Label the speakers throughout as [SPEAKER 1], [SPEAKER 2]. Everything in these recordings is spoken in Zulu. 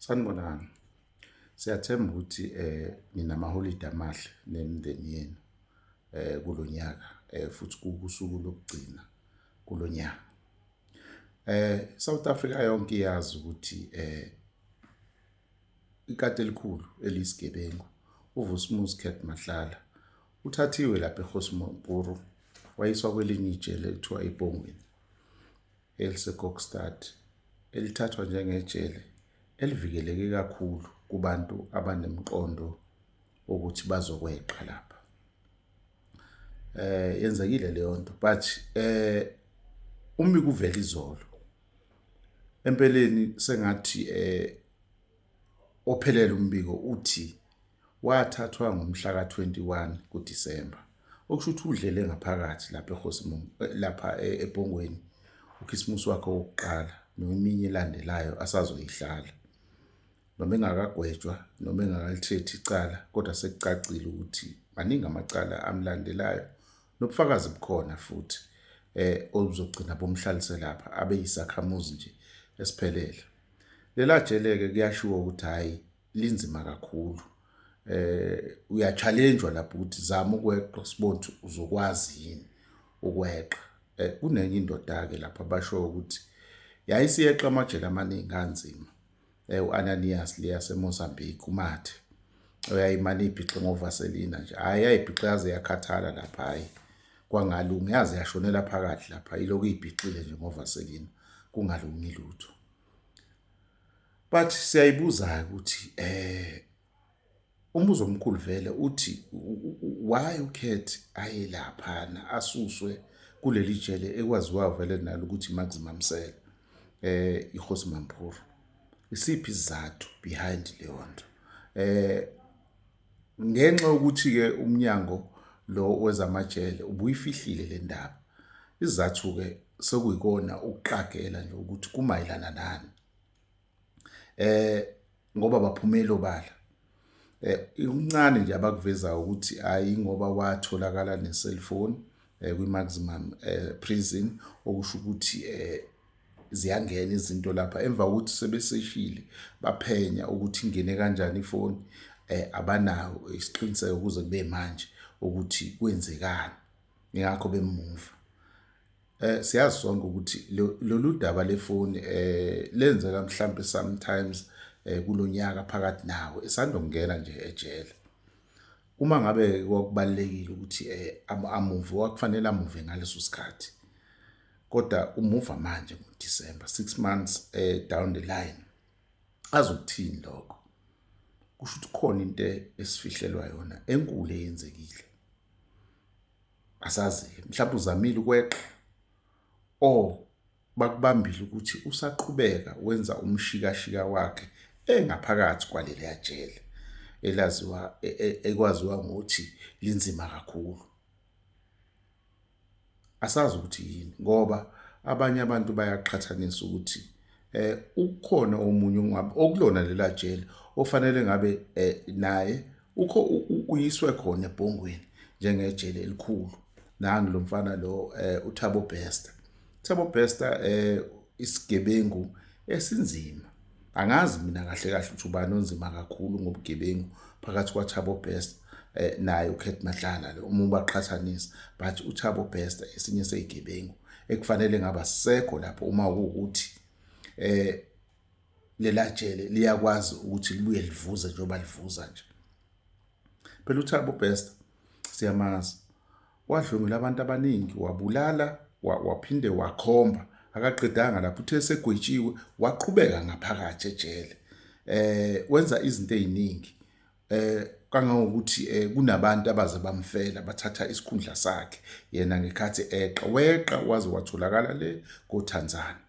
[SPEAKER 1] Sanibonani. Siyathemba ukuthi eh ninamaholide amahle nemindeni yenu eh kulonyaka eh futhi kusuku lokugcina kulonyaka. Eh South Africa yonke iyazi ukuthi eh ikati elikhulu elisigebengu uVusmuzi Cat Mahlala uthathiwe lapha eGosmopuru wayiswa kwelinye ijele ekuthiwa iBongweni. eliseKokstad, elithathwa njengejele elivikeleke kakhulu kubantu abanemqondo ukuthi bazokweqa lapha eh yenzekile leyo nto but eh umi kuvela izolo empeleni sengathi eh ophelele umbiko uthi Wathathwa ngomhla ka-21 kuDisemba, okusho ukuthi udlele ngaphakathi lapha eRhosimong eh, lapha eh, eBhongweni ukhisimusi wakhe wokuqala neminye elandelayo asazoyihlala noma engakagwetshwa noma engakalithethi icala kodwa sekucacile ukuthi maningi amacala amlandelayo nobufakazi bukhona futhi eh obuzogcina bomhlalise lapha abe yisakhamuzi nje esiphelele lela jele ke kuyashiwo ukuthi hayi linzima kakhulu eh uyachalenjwa lapho ukuthi zama ukweqa sibone ukuthi uzokwazi yini ukweqa eh kunenye indoda ke lapha basho ukuthi yayisiyeqa amajele amaningi kanzima eh uAnanias leya seMozambique umathe uyayimana ibhixe ngovaselina nje hayi ayibhixe yaze yakhathala lapha hayi kwangalungi yaze yashonela phakathi lapha ilokhu ibhixile nje ngovaselina kungalungi lutho but siyayibuza ukuthi eh umbuzo omkhulu vele uthi why ukhethi aye laphana asuswe kuleli jele ekwaziwa vele nalo ukuthi Max Mamsela eh ihosi Mamphuru isiphi izathu behind leyo nto eh ngenxa ukuthi ke umnyango lo wezamajele ubuyifihlile le ndaba izathu ke sekuyikona ukuqagela nje ukuthi kumayelana nani eh ngoba baphumela obala eh ikuncane nje abakuvezayo ukuthi hayi ngoba watholakala ne cellphone eh kwi maximum eh prison okusho ukuthi eh ziyangena izinto lapha emva kokuthi sebeseshile baphenya ukuthi ingene kanjani ifoni eh abanawo isiqiniseko kuze kube manje ukuthi kwenzekani ingakho bemuva Eh siyazi sonke ukuthi lolu daba lefoni eh lenzeka mhlambe sometimes eh kulonyaka phakathi nawo esandongena nje ejele. Uma ngabe kwakubalekile ukuthi eh amuve wakufanele amuve ngaleso sikhathi. Kodwa umuva manje ngo December 6 months eh down the line. Azokuthini lokho? Kusho ukuthi khona into esifihlelwa yona enkulu eyenzekile. asazi-ke mhlawumbe uzamile ukweqa or bakubambile ukuthi usaqhubeka wenza umshikashika wakhe engaphakathi kwaleliya jele elaziwa e, e, ekwaziwa ngokuthi linzima kakhulu asazi ukuthi yini ngoba abanye abantu bayaqhathanisa ukuthi eh ukhona omunye ongabe okulona lela jele ofanele ngabe eh, naye ukho uyiswe khona ebhongweni njengejele elikhulu nangu lo mfana lo eh, uThabo Bester Thabo Bester eh isigebengu esinzima angazi mina kahle kahle ukuthi ubani onzima kakhulu ngobugebengu phakathi kwaThabo Bester eh, naye uKhet Madlala lo uma ubaqhathanisa but uThabo Bester esinye sezigebengu ekufanele ngaba sisekho lapho uma ukuthi eh lelajele liyakwazi ukuthi libuye livuze njengoba livuza nje phela uthabo best siyamazi wadlwengula abantu abaningi wabulala waphinde wakhomba akaqedanga lapho uthe segwetshiwe waqhubeka ngaphakathi ejele eh wenza izinto eziningi eh kangangokuthi eh, kunabantu abaze bamfela bathatha isikhundla sakhe yena ngekhathi eqa weqa waze watholakala le koThanzana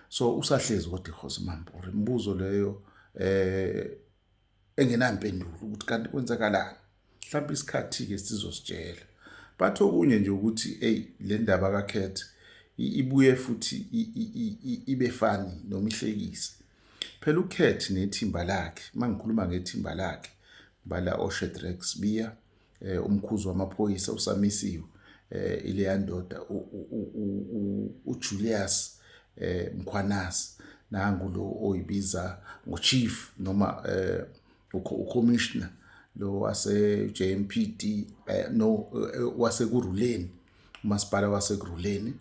[SPEAKER 1] so usahlezi kodwa ikhosi mampore imibuzo leyo eh engenampendulo ukuthi kanti kwenzakalani mhlawumbe isikhathi ke sizositshela bathi okunye nje ukuthi hey le ndaba kakhethe ibuye futhi ibe fani noma ihlekise phela ukhethi nethimba lakhe mangikhuluma ngethimba lakhe bala oShedrack Sibiya eh umkhuzi wamaphoyisa usamisiwe eh ileya ndoda uJulius eh Mkhwanazi nangu lo oyibiza ngochief noma eh ucommissioner lo wase JMPD eh, no eh, wase kuruleni umasipala wase kuruleni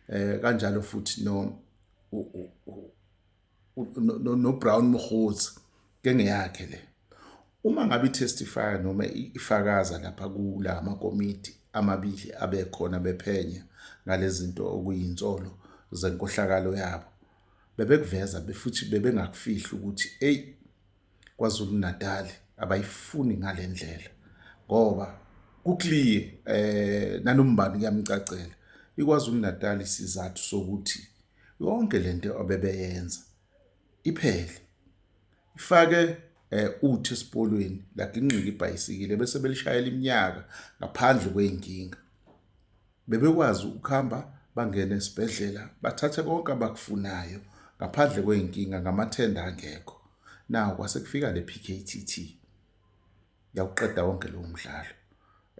[SPEAKER 1] eh kanjalo futhi no no Brown Mkhozi ke ngeyakhe le uma ngabe itestify noma ifakaza lapha kula makomiti amabili abekhona bephenya ngalezinto okuyinsolo zenkohlakalo yabo bebekuveza befuthi bebengakufihli ukuthi eyi KwaZulu-Natal abayifuni ngale ndlela ngoba kukliye eh nanombani kuyamcacela iKwaZulu-Natal isizathu sokuthi yonke lento abebeyenza iphele ifake eh uthi esipoliweni lagingqika ibhayisikile bese belishayela iminyaka ngaphandle kweyinkinga Bebekwazi ukuhamba bangene esibhedlela bathathe konke abakufunayo ngaphandle kwey'nkinga ngamathenda angekho. Nawu kwase kufika le PKTT yawuqeda wonke lowo mdlalo.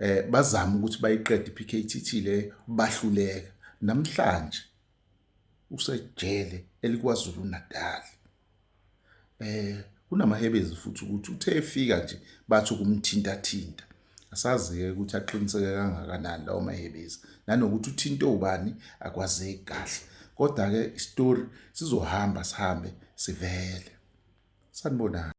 [SPEAKER 1] Eh bazama ukuthi bayiqede iPKTT le bahluleka. Namhlanje usejele eliKwaZulu-Natal. Eh kunamahebezi futhi ukuthi uthe efika nje bathi ukumthintathinta. Asazi-ke ukuthi aqiniseke kangakanani lawo mahebezi nanokuthi uthinte ubani akwazeki kahle. Kodwa-ke isitori sizohamba sihambe sivele. Sanibonani.